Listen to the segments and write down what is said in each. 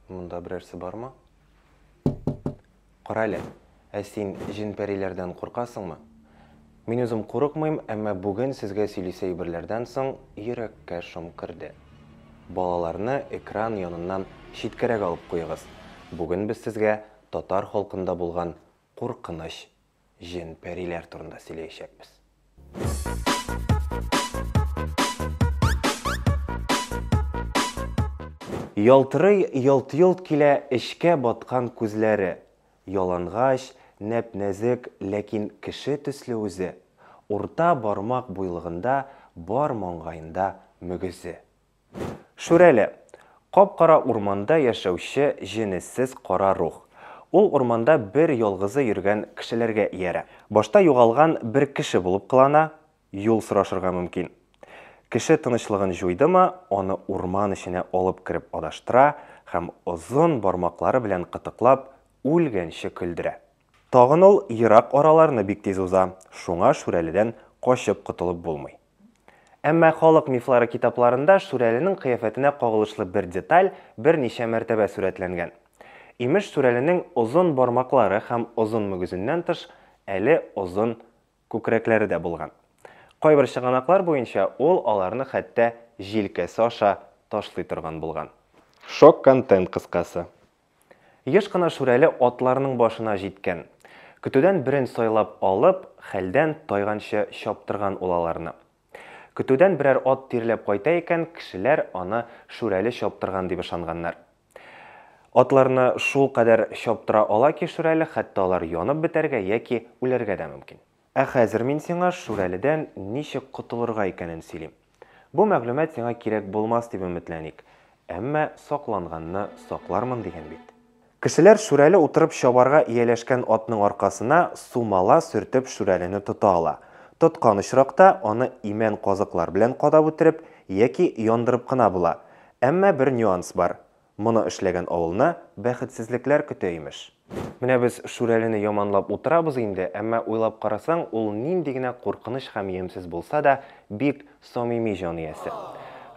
Монда берәрсе бармы? Кара әле, ә син җен-пәриләрдән куркасыңмы? Мин үзем курыкмыйм, әмма бүген сезгә сөйлисе әйберләрдән соң йөрәккә шом керде. Балаларны экран яныннан читкәрәк алып куегыз. Бүген без сезгә татар халкында булган куркыныч җен-пәриләр турында сөйләячәкбез. Ялтырый ялт-йолт килә эчкә баткан күзләре, ялангач, нәп-нәзек, ләкин кеше төсле үзе, урта бармак буйлыгында, бар маңгаенда мөгезе. Шүрәле. Кап-кара урманда яшәүче җенессез кара рух. Ул урманда бер ялгызы йөргән кешеләргә иярә. Башта югалган бер кеше булып кылана, юл сорашырга мөмкин. Кеше тынычлыгын җуйдымы, аны урман эченә алып кереп адаштыра һәм озын бармаклары белән кытыклап, үлгәнче көлдерә. Тагын ул ерак араларны бик тиз уза, шуңа Шүрәледән качып котылып булмый. Әмма халык мифлары китапларында Шүрәленең кыяфәтенә кагылышлы бер деталь берничә мәртәбә сурәтләнгән. Имеш, Шүрәленең озын бармаклары һәм озын мөгезеннән тыш, әле озын күкрәкләре дә булган. Кайбер чыганаклар буенча, ул аларны хәтта җилкәсе аша ташлый торган булган. Шок контент кыскасы. Еш кына Шүрәле атларының башына җиткән. Көтүдән берен сайлап алып, хәлдән тайганчы чаптырган ул аларны. Көтүдән берәр ат тирләп кайта икән, кешеләр аны Шүрәле чаптырган дип ышанганнар. Атларны шулкадәр чаптыра ала ки Шүрәле, хәтта алар янып бетәргә яки үләргә дә мөмкин. Ә хәзер мин сиңа Шүрәледән ничек котылырга икәнен сөйлим. Бу мәгълүмат сиңа кирәк булмас дип өметләник, әмма сакланганны саклармын дигән бит. Кешеләр Шүрәле утырып чабарга ияләшкән атның аркасына сумала сөртеп Шүрәлене тота ала. Тоткан очракта, аны имән казыклар белән кадап үтереп яки яндырып кына була. Әмма бер нюанс бар. Моны эшләгән авылны бәхетсезлекләр көтә, имеш. Менә без Шүрәлене яманлап утырабыз инде, әмма уйлап карасаң, ул нинди генә куркыныч һәм ямьсез булса да, бик самими җан иясе.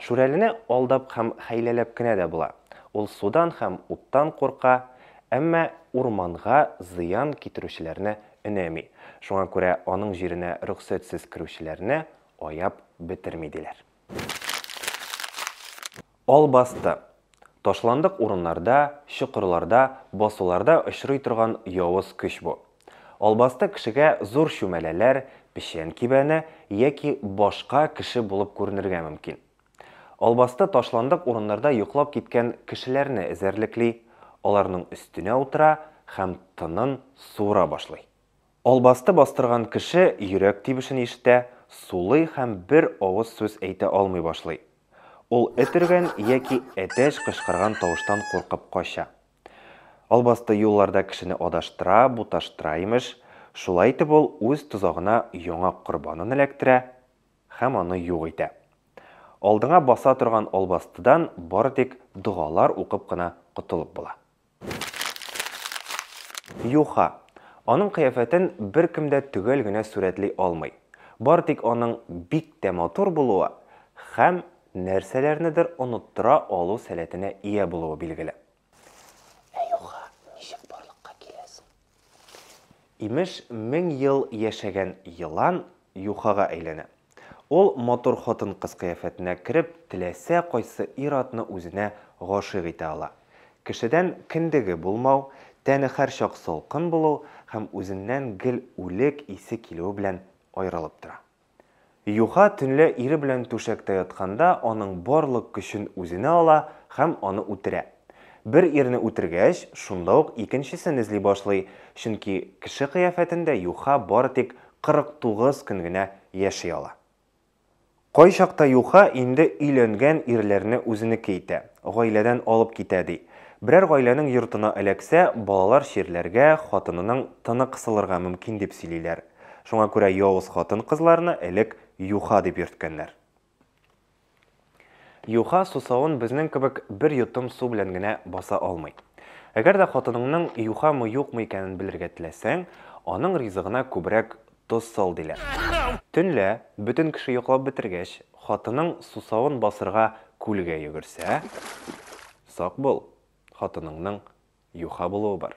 Шүрәлене алдап һәм хәйләләп кенә дә була. Ул судан һәм уттан курка, әмма урманга зыян китерүчеләрне өнәми. Шуңа күрә аның җиренә рөхсәтсез керүчеләрне аяп бетерми, диләр. Албасты. Ташландык урыннарда, чокырларда, басуларда очрый торган явыз көч бу. Албасты кешегә зур чүмәләләр, печән кибәне яки башка кеше булып күренергә мөмкин. Албасты ташландык урыннарда йоклап киткән кешеләрне эзәрлекли, аларның өстенә утыра һәм тынын суыра башлый. Албасты бастырган кеше йөрәк тибешен ишетә, сулый һәм бер авыз сүз әйтә алмый башлый. Ул эт өргән яки әтәч кычкырган тавыштан куркып кача. Албасты юлларда кешене адаштыра, буташтыра, имеш. Шулай итеп ул үз тозагына яңа корбанын эләктерә һәм аны юк итә. Алдыңа баса торган албастыдан бары тик догалар укып кына котылып була. Юха, аның кыяфәтен беркем дә төгәл генә сурәтли алмый. Бары тик аның бик тә матур булуы һәм нәрсәләрнедер оныттыра алу сәләтенә ия булуы билгеле. Ә юха ничек барлыкка килә соң? Имеш, мең ел яшәгән елан юхага әйләнә. Ул матур хатын-кыз кыяфәтенә кереп, теләсә кайсы ир-атны үзенә гашыйк итә ала. Кешедән кендеге булмау, тәне һәрчак салкын булу һәм үзеннән гел үлек исе килүе белән аерылып тора. Юха төнлә ире белән түшәктә ятканда аның барлык көчен үзенә ала һәм аны үтерә. Бер ирне үтергәч, шунда ук икенчесен эзли башлый, чөнки кеше кыяфәтендә Юха бары тик 49 көн генә яши ала. Кайчакта Юха инде өйләнгән ирләрне үзенеке итә, гаиләдән алып китә, ди. Берәр гаиләнең йортына эләксә, балалар чирләргә, хатынының тыны кысылырга мөмкин дип сөйлиләр. Шуңа күрә явыз хатын-кызларны элек юха дип йөрткәннәр. Юха сусавын безнең кебек бер йотым су белән генә баса алмый. Әгәр дә хатыныңның юхамы-юкмы икәнен белергә теләсәң, аның ризыгына күбрәк тоз сал, диләр. Төнлә, бөтен кеше йоклап бетергәч, хатының сусавын басырга күлгә йөгерсә, сак бул, хатыныңның Юха булуы бар.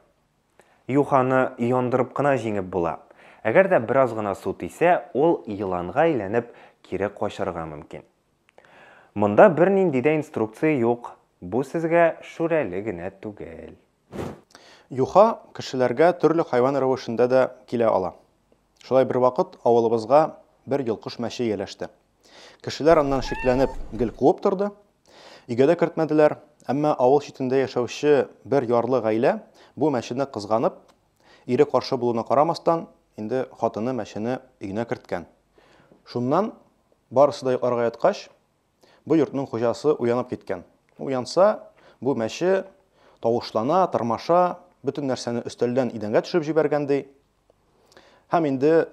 Юханы яндырып кына җиңеп була. Әгәр дә бераз гына су тисә, ул еланга әйләнеп, кире качарга мөмкин. Монда бернинди дә инструкция юк, бу сезгә Шүрәле генә түгел. Юха кешеләргә төрле хайван рәвешендә дә килә ала. Шулай бервакыт авылыбызга бер йолкыш мәче ияләште. Кешеләр аннан шикләнеп гел куып торды. Өйгә дә кертмәделәр. Әмма авыл читендә яшәүче бер ярлы гаилә бу мәчене кызганып, ире каршы булуына карамастан, инде хатыны мәчене өенә керткән. Шуннан барысы да йокларга яткач, Бу йортның хуҗасы уянып киткән. Уянса, бу мәче тавышлана, тырмаша, бөтен нәрсәне өстәлдән идәнгә төшереп җибәргән ди. Һәм инде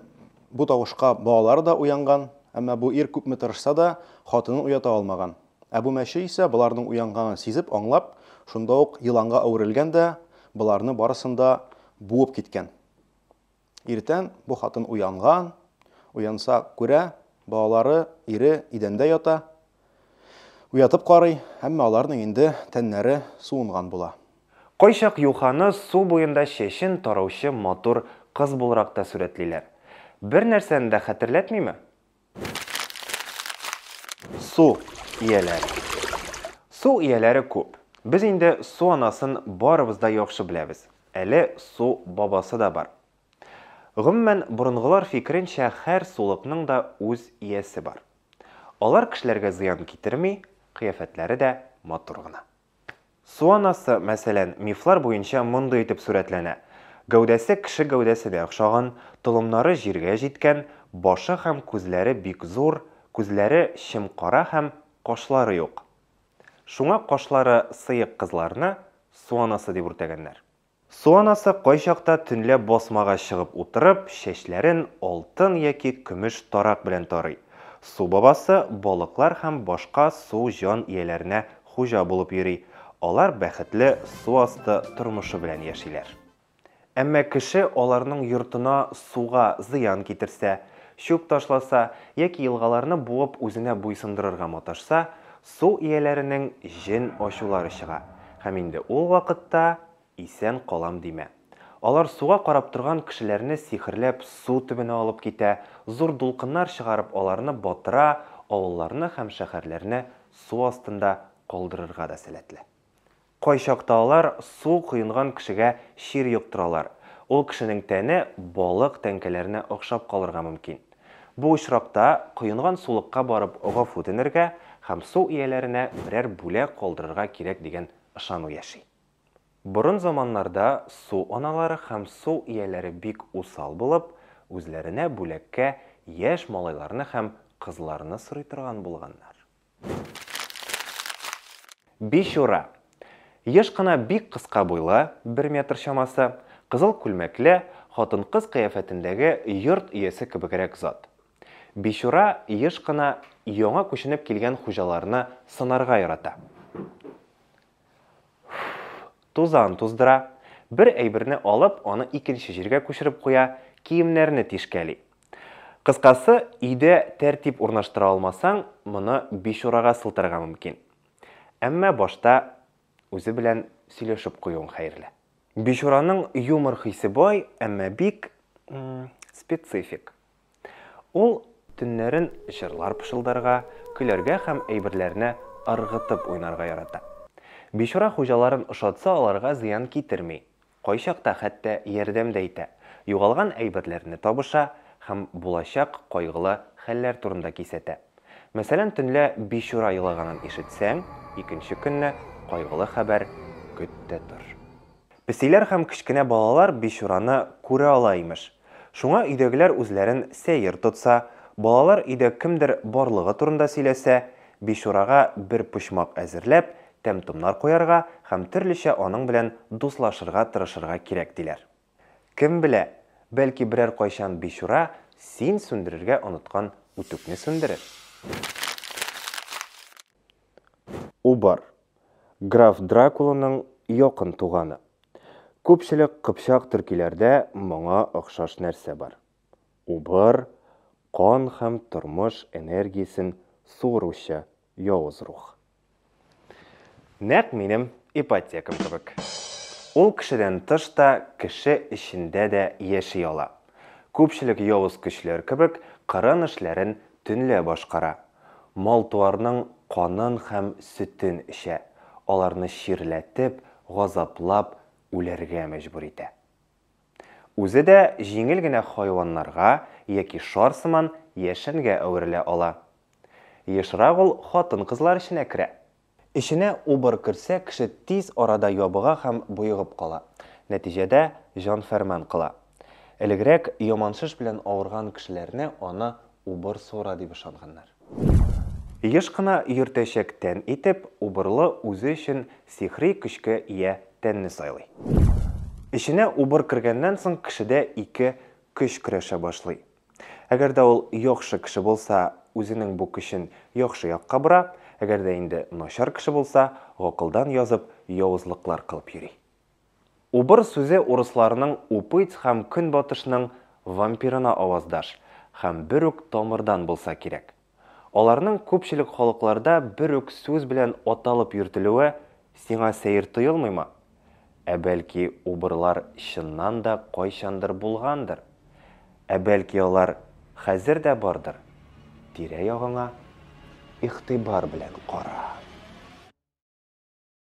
бу тавышка балалары да уянган, әмма бу ир күпме тырышса да, хатынын уята алмаган. Ә бу мәче исә боларның уянганын сизеп, аңлап, шунда ук еланга әверелгән дә боларны барысын да буып киткән. Иртән бу хатын уянган, уянса, күрә, балалары, ире идәндә ята. Уятып карый, әмма аларның инде тәннәре суынган була. Кайчак юханы су буенда чәчен тараучы матур кыз буларак та сурәтлиләр. Бернәрсәне дә хәтерләтмиме? Су ияләре. Су ияләре күп. Без инде су анасын барыбыз да яхшы беләбез. Әле су бабасы да бар. Гомумән, борынгылар фикеренчә, һәр сулыкның да үз иясе бар. Алар кешеләргә зыян китерми, кыяфәтләре дә матур гына. Су анасы, мәсәлән, мифлар буенча мондый итеп сурәтләнә, гәүдәсе кеше гәүдәсенә охшаган, толымнары җиргә җиткән, башы һәм күзләре бик зур, күзләре чем-кара һәм кашлары юк. Шуңа кашлары сыек кызларны су анасы дип үртәгәннәр. Су анасы кайчакта төнлә басмага чыгып утырып, чәчләрен алтын яки көмеш тарак белән тарый. Су бабасы балыклар һәм башка су җан ияләренә хуҗа булып йөри, алар бәхетле су асты тормышы белән яшиләр. Әмма кеше аларның йортына суга зыян китерсә, чүп ташласа яки елгаларны буып үзенә буйсындырырга маташса, су ияләренең җен ачулары чыга, һәм инде ул вакытта исән калам димә. Алар суга карап торган кешеләрне сихерләп су төбенә алып китә, зур дулкыннар чыгарып аларны батыра, авылларны һәм шәһәрләрне су астында калдырырга да сәләтле. Кайчакта алар су коенган кешегә чир йоктыралар, ул кешенең тәне балык тәңкәләренә охшап калырга мөмкин. Бу очракта коенган сулыкка барып гафу үтенергә һәм су ияләренә берәр бүләк калдырырга кирәк дигән ышану яши. Борын заманнарда су аналары һәм су ияләре бик усал булып, үзләренә бүләккә яшь малайларны һәм кызларны сорый торган булганнар. Бичура. Еш кына бик кыска буйлы, бер метр чамасы, кызыл күлмәкле, хатын-кыз кыяфәтендәге йорт иясе кебегрәк зат. Бичура еш кына яңа күченеп килгән хуҗаларны сынарга ярата. Тузан туздыра. Бер әйберне алып, аны икенче җиргә күчереп куя, киемнәрне тишкәли. Кыскасы, өйдә тәртип урнаштыра алмасаң, моны бичурага сылтарга мөмкин. Әмма башта үзе белән сөйләшеп куюың хәерле. Бичураның юмор хисе бай, әмма бик специфик. Ул төннәрен җырлар пышылдарга, көләргә һәм әйберләрне ыргытып уйнарга ярата. Бичура хуҗаларын ошатса аларга зыян китерми, кайчакта хәтта ярдәм дә итә, югалган әйберләрне табыша һәм булачак кайгылы хәлләр турында кисәтә. Мәсәлән, төнлә бичура елаганын ишетсәң, икенче көнне кайгылы хәбәр көт тә тор. Песиләр һәм кечкенә балалар бичураны күрә ала, имеш. Шуңа өйдәгеләр үзләрен сәер тотса, балалар өйдә кемдер барлыгы турында сөйләсә, бичурага бер почмак әзерләп, тәм-томнар куярга һәм төрлечә аның белән дуслашырга тырышырга кирәк, диләр. Кем белә, бәлки берәр кайчан бичура син сүндерергә оныткан үтүкне сүндерер. Убар. Граф Дракуланың якын туганы. Күпчелек кыпчак төркиләрдә моңа охшаш нәрсә бар. Убар, кан һәм тормыш энергиясен суыручы явыз рух. Нәкъ минем ипотекам кебек. Ул кешедән тыш та, кеше эчендә дә яши ала. Күпчелек явыз көчләр кебек, кырын эшләрен төнлә башкара. Мал-туарның канын һәм сөтен эчә, аларны чирләтеп, газаплап үләргә мәҗбүр итә. Үзе дә җиңел генә хайваннарга яки шар сыман яшенгә әверелә ала. Ешрак ул хатын-кызлар эченә керә. Эченә убыр керсә, кеше тиз арада ябыга һәм боегып кала. Нәтиҗәдә, җан фәрман кыла. Элегрәк яманшыш белән авырган кешеләрне аны убыр суыра дип ышанганнар. Еш кына йөртәчәк тән итеп, убырлы үзе өчен сихри көчкә ия тәнне сайлый. Эченә убыр кергәннән соң кешедә ике көч көрәшә башлый. Әгәр дә ул яхшы кеше булса, үзенең бу көчен яхшы якка бора, әгәр дә инде начар кеше булса, гакылдан язып, явызлыклар кылып йөри. Убыр сүзе урысларның упыть һәм көнбатышның вампирына аваздаш һәм бер үк тамырдан булса кирәк. Аларның күпчелек халыкларда бер үк сүз белән аталып йөртелүе сиңа сәер тоелмыймы? Ә бәлки убырлар чыннан да кайчандыр булгандыр? Ә бәлки алар хәзер дә бардыр? Тирә-ягыңа игътибар белән кара.